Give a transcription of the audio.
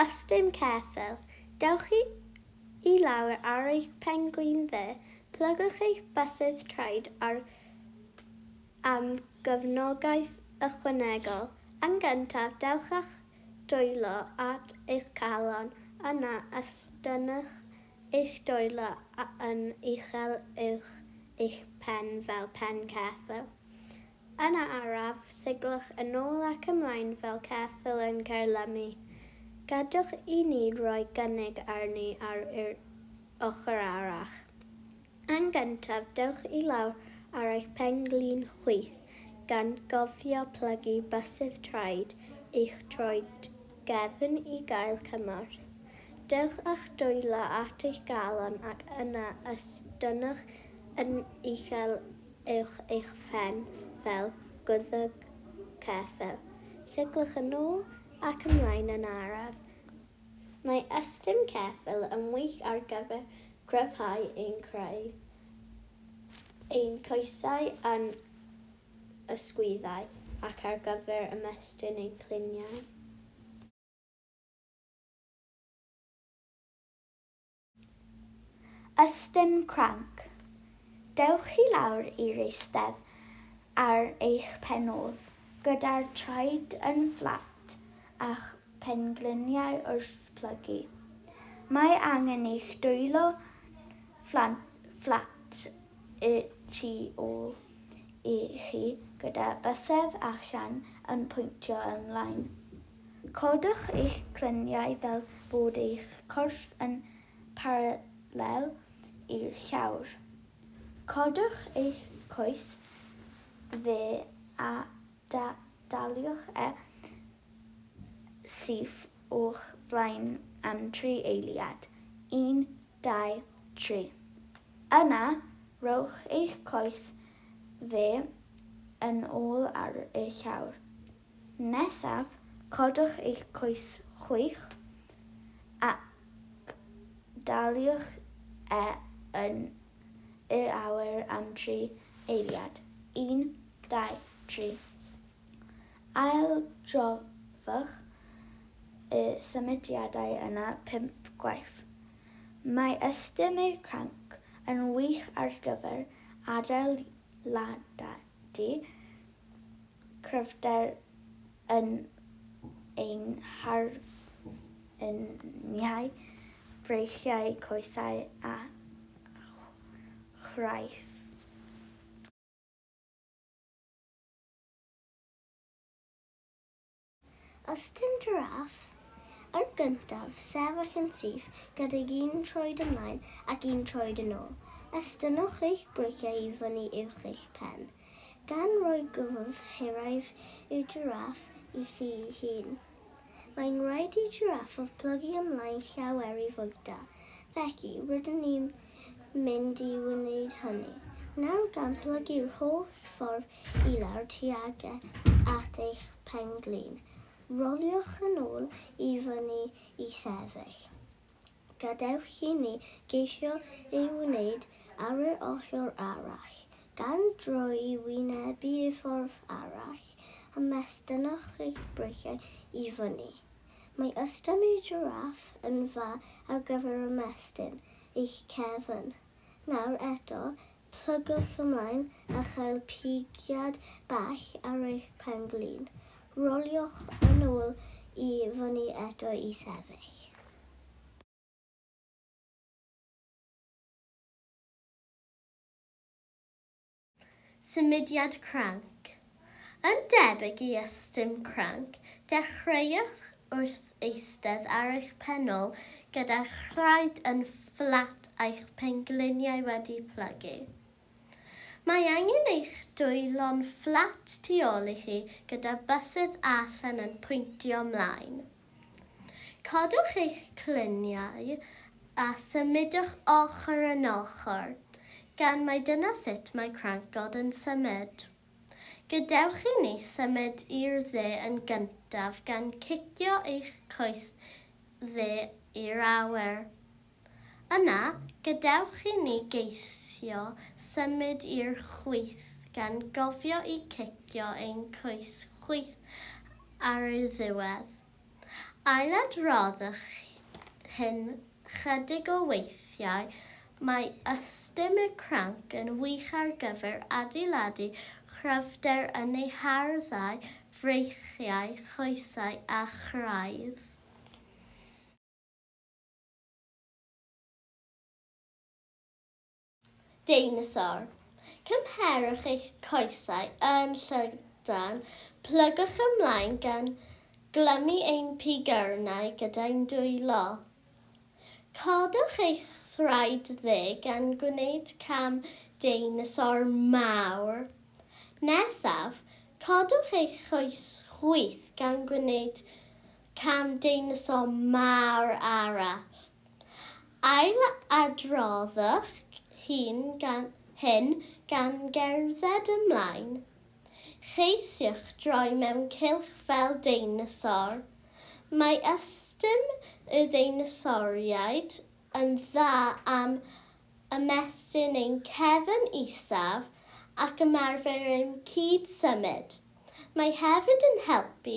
Ystum ceffyl, dewch i lawr ar eich pen-glin dde, plygwch eich bysedd traed ar am gefnogaeth ychwanegol. Yn gyntaf, dewch â'ch dwylo at eich calon yna estynnwch eich dwylo yn uchel uwch eich pen fel pen ceffyl. Yna araf, seglwch yn ôl ac ymlaen fel ceffyl yn caerlymu. Gadwch i ni roi cynnig arni ar yr ochr arall. Yn gyntaf, dewch i lawr ar eich pen-glin chwith, gan gofio plygu bysedd traed eich troed gefn i gael cymorth. Dewch â'ch dwylo at eich galon ac yna estynnwch yn uchel uwch eich phen fel gwddg ceffyl. Seglwch yn ôl ac ymlaen yn araf. Mae ystum ceffyl yn wych ar gyfer cryfhau ein craidd, ein coesau a'n ysgwyddau ac ar gyfer ymestyn ein cliniau. Ystum cranc. Dewch i lawr i'r eistedd ar eich pen ôl, gyda'r traed yn fflat a'ch pengliniau wrth blygu. Mae angen i'ch dwylo fflat y tu ôl i chi gyda bysedd a chan yn pwyntio ymlaen. Codwch eich clyniau fel bod eich corff yn paralel i'r llawr. Codwch eich coes dde a daliwch e syth o'ch flaen am tri eiliad, un, dau, tri. Yna, rhowch eich coes dde yn ôl ar y llawr. Nesaf, codwch eich coes chwith ac daliwch e yn yr awyr am dri eiliad, un, dau, tri. Aildrofwch y symudiadau yna pump gwaith. Mae ystum eich cranc yn wych ar gyfer adeiladau. Dydy cryfder yn ein harweiniau, breichiau, coesau a chraith. Os dim jiráff, yn gyntaf, sefyll yn syth gydag un troed ymlaen ac un troed yn ôl. Estynnwch eich breiciau i fyny uwch eich pen, gan roi gwddf hiraidd i'r jiráff i chi'ch hun. Mae'n rhaid i jiráffwr plygu ymlaen llaw er ei fwyta, felly rydyn ni'n mynd i wneud hynny. Nawr gan blygu'r holl ffordd i lawr tuag at eich pen-glin, roliwch yn ôl i fyny i sefyll. Gadewch i ni geisio ei wneud ar yr ochr arall, gan droi i wynebu y ffordd arall, a mestynnwch eich breichiau i fyny. Mae ystum y jiráff yn dda ar gyfer ymestyn eich cefn. Nawr eto, plygwch ymlaen a chael pigiad bach ar eich pen-glin. Roliwch yn ôl i fyny eto i sefyll. Symudiad cranc. Yn debyg i ystum cranc, dechreuwch wrth eistedd ar eich pen-ôl gyda'ch nhraed yn fflat a'ch pengliniau wedi plygu. Mae angen eich dwylo'n fflat tu ôl i chi gyda bysedd allan yn pwyntio 'mlaen. Codwch eich cluniau a symudwch ochr yn ochr, gan mai dyna sut mae crancod yn symud. Gadewch i ni symud i'r dde yn gyntaf gan cicio eich coes dde i'r awyr. Yna, gadewch i ni geisio symud i'r chwith gan gofio i cicio ein coes chwith ar y ddiwedd. Ailadroddwch hyn chydig o weithiau, mae ystum y cranc yn wych ar gyfer adeiladu chryfder yn ei harddau, freichiau, choesau a chraidd. Deinosor. Cymherwch eich coesau yn llydan, plygwch ymlaen gan glymu ein pigyrnau gyda'u dwylo. Codwch eich thraed dde gan gwneud cam deinosor mawr. Nesaf, codwch eich coes chwith gan gwneud Cam deinosor mawr arall. Ailadroddwch hyn gan hyn gan gerdded ymlaen. Cheisiwch droi mewn cylch fel deinosor. Mae ystum y ddeinosoriaid yn dda am ymestyn ein cefn isaf ac ymarfer ein cyd-symud. Mae hefyd yn helpu